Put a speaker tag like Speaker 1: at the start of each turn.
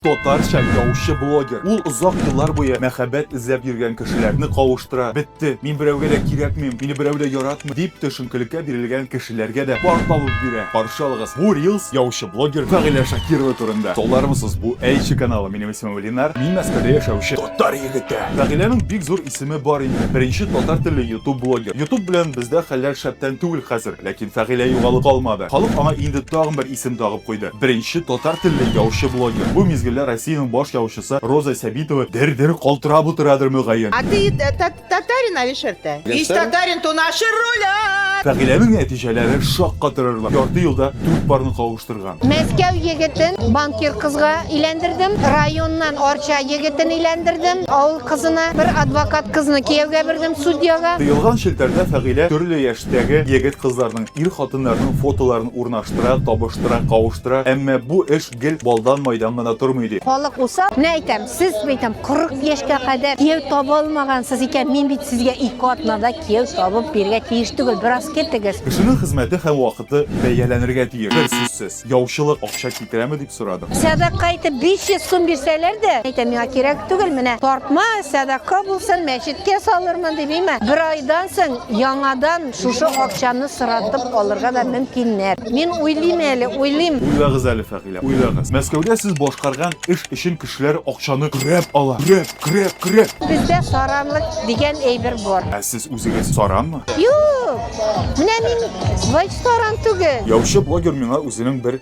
Speaker 1: Татарча яучы блогер. Ул озак еллар буе мәхәббәт эзләп йөргән кешеләрне кавыштыра. Бетте, мин берәүгә дә кирәкмим, мине берәү дә яратмый, дип төшенкелеккә бирелгән кешеләргә дә пар табып бирә. Каршы алыгыз, бу рилс яучы блогер Фәгыйлә Шакирова турында. Салдырмысыз, бу Әйче каналы. Минем исемем Ленар, мин Мәскәүдә яшәүче татар егете. Фәгыйләнең бик зур исеме бар инде. Беренче татар телле ютуб блогер. Ютуб белән бездә хәлләр шәптән түгел хәзер. Ләкин Фәгыйлә югалып калмады. Халык аңа инде тагын бер исем тагып куйды. Беренче татар телле яучы блогер. Бу мизгелдә Россиянең баш яучысы Роза Сәбитова дер-дер калтырап утырадыр мөгаен. А ты
Speaker 2: татарин, Алишер, тә? Ис татарин, то наши рулят! Фәгыйләнең нәтиҗәләре
Speaker 1: шаккатырырлык. Ярты елда дүрт парны кавыштырган. Мәскәү егетен
Speaker 3: банкир кызга өйләндердем, районнан Арча егетен өйләндердем, авыл кызына, бер адвокат кызны кияүгә бирдем, судьяга. Тыелган челтәрдә
Speaker 1: Фәгыйлә төрле яшьтәге егет-кызларның, ир-хатыннарның фотоларын Урнаштыра, табыштыра, кавыштыра, әмма бу эш гел балдан-майдан гына тормый, ди. Халык усал. Менә әйтәм,
Speaker 3: сез, әйтәм, 40 яшькә кадәр кияү таба алмагансыз икән, мин бит сезгә ике атнада кияү табып бирергә тиеш түгел, бераз көтегез. Кешенең хезмәте һәм
Speaker 1: вакыты бәяләнергә тиеш, берсүзсез. Яучылык, акча. Китерәме дип сорадым. Сәдака итеп 500
Speaker 3: сум бирсәләр дә, әйтәм, миңа кирәк түгел, менә тартма, сәдака булсын, мәчеткә салырмын дип, имә. Бер айдан соң яңадан шушы акчаны соратып алырга да мөмкиннәр. Мин уйлыйм әле, уйлыйм. Уйлагыз әле, Фәгыйлә,
Speaker 1: уйлагыз. Мәскәүдә сез башкарган эш өчен кешеләр акчаны көрәп ала. Көрәп, көрәп, көрәп. Бездә саранлык
Speaker 3: дигән әйбер бар. Ә сез үзегез
Speaker 1: саранмы? Юк!
Speaker 3: Менә мин вайт саран түгел. Яучы блогер миңа
Speaker 1: үзенең бер